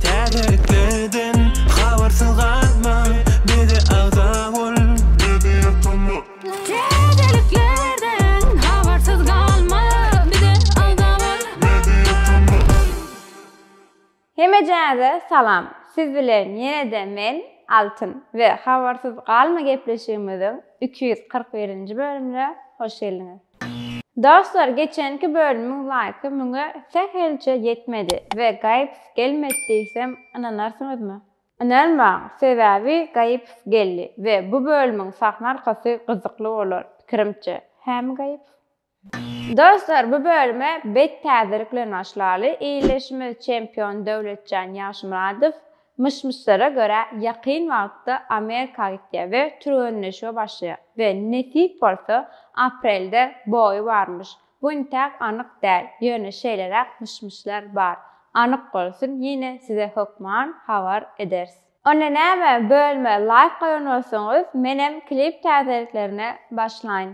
Täzeliklerden habarsyz galma, bize agza bol. Täzeliklerden habarsyz galma, bize agza bol. Hemejänize salam, siz bilen ýene-de men, Altyn, we Habarsyz galma gepleşigimiziň iki ýüz kyrk birinji bölümine hoş geldiňiz. Dostlar geçenki bölümiň laýky müňe sähelçe ýetmedi we gaýyps gelmedi diýsem ynanarsyňyzmy? Ynanmaň sebäbi gaýyps geldi we bu bölümiň sahna arkasy gyzykly bolar pikirimçe, hämi gaýyps? Dostlar bu bölüme bet täzelik bilen başlaly, illeşimiz çempion Döwletjan Ýagşymyradow Myş-myşlara görä ýakyn wagtda Amerika gitýär we türgenleşige başlaýar we nesip bolsa aprelde boýy barmyş. Bu intäk anyk däl, ýöne şeýleräk myş-myşlar bar. Anyk bolsun ýene size hökman habar ederis. Onda näme bölme laýk goýan bolsaňyz menem klip täzeliklerine başlaýyn.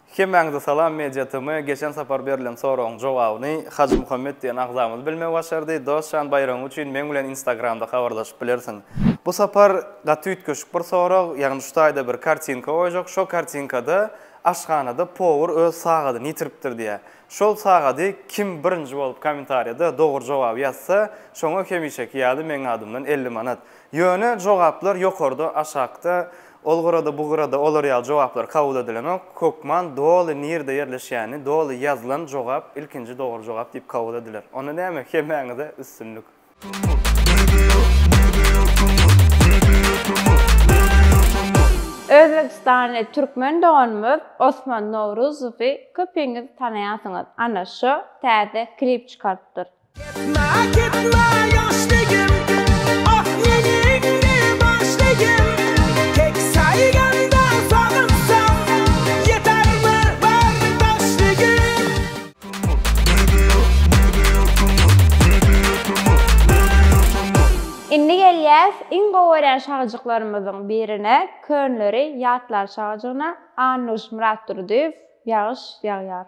Hemmäňize salam Media TM geçen sapar berlen soragyň jogabyny Hajymuhammet diýen agzamyz bilmegi başardy. Dos jan baýragyň üçin meň bilen instagramda habarlaşyp bilersiň. Bu sapar gaty üýtgeşik bir sorag, ýagny şu taýda bir kartinka goýjak şo kartinkada aşhanada powur öz sagadyny ýitiripdir diýýär. Şol sagady kim birinji bolup komentarýada dogry jogaby ýazsa şoňa hemişeki ýaly meň adymdan elli manat. Ýöne jogaplar ýokarda aşakda Ol gyrada, bu gyrada olar ýaly jogaplar kabul edilenok. Hökman doly nirde ýerleşýäni, doly ýazylan jogap ilkinji dogry jogap diýip kabul ediler. Onda näme, hemmäňize üstünlik! Özbegistanly türkmen doganymyz Osman Nowruzowy köpiňiz tanaýarsyňyz, ana şo täze klip çykarypdyr. Indi gelýäs iň gowy görýän şahyjyklarymyzyň birine Könleri ýatlar şahyjygyna Annuş Myratdurdyýew Ýagyş ýagýar.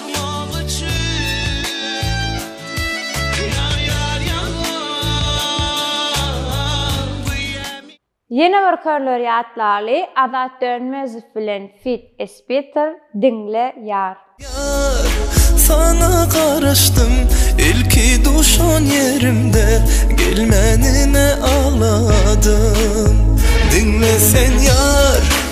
Ýatmak üçin Ýar ýar ýalňyz Bu ýämi. Ýene bir körler ýatlaly Azat Dönmezow bilen fit Esbitter diňle ýar. Ýar, saňa garaşdym ilki duşan ýerimde Gelmänine agladym, diňle sen ýar.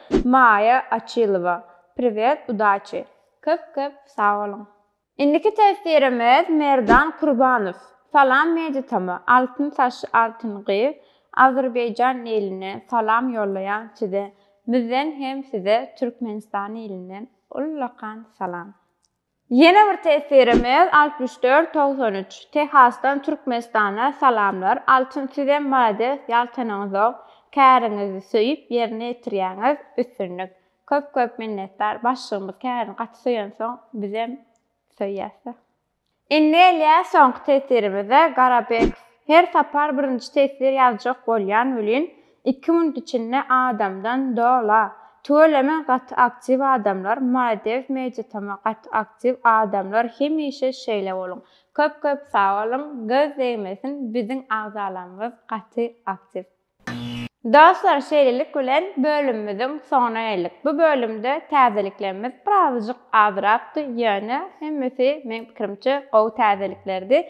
Maýa Açylowa Priwet udaçi Köp köp sag boluň. Indiki teswirimiz Merdan Kurbanow Salam Meditama Altyn saç Altyn gyz Azerbaýjan iline salam ýollaýan size müzden hem size Türkmenistan ilinden ullakan salam. Ýene bir tesirimiz altmyş dört togsan üç Tehasdan Türkmenistana salamlar Altyn sizem malades ýal tanyňyzok käriňizi söýüp ýerine ýetirýäňiz üstünlik köp köp minnetdar başlygymyz kärini gaty söýensoň bizem söýýäsda. Indi gelýär soňky tesirimize Garabekov her sapar birinji tesir ýazjak bolýan welin Iki munt içinde adamdan dola. Tüweleme gaty aktiw adamlar maledew meýditama gaty aktiw adamlar hemişe şeýle boluň köp köp sag boluň göz degmesin biziň agzalarymyz gaty aktiw. Dostlar şeýlelik bilen bölümimiziň soňuna geldik. Bu bölümde täzeliklerimiz birazajyk azrakdy ýöne hemmesi meň pikirimçe gowy täzeliklerdi.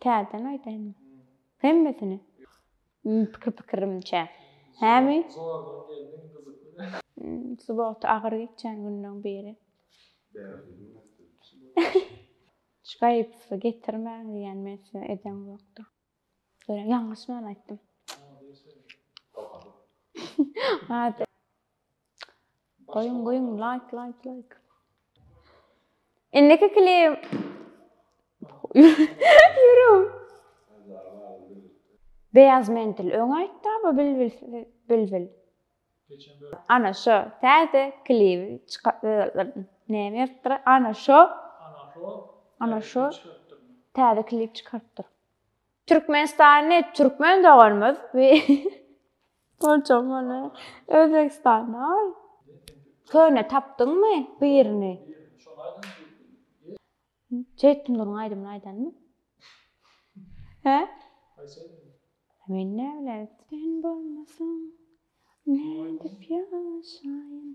Täzeden aýdaýynmy? Hemmesini? Pikir-pikirimçe. Hämi? Zordan geldiň, gyzykly. Subota agyr geçýän günleň biri. Bärde bilmezdim. Hiç gaýypsyz getirmäň diýýän men size edeň ýokdur. Görä ýalňyşman aýtdym. Ady. Goýuň, goýuň, laýk, laýk, laýk. Indiki klip. Ýürüm. Beýaz mentil öň aýtdy bu bilbil bilbil. Ana şo täze klip çyka näme ýertdir? Ana şo. Ana şo. Ana şo. Täze klip çykarypdyr. Türkmenistany türkmen doganymyz. Borjam ony Özbegistana al. Köne tapdyňmy birini? Jeýtundurň aýdymyny aýdanmy? He? Men näbilen sen bolmasaň nädip ýaşaýyn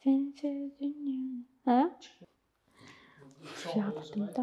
sensiz dünýäni. He? Ýadadymda.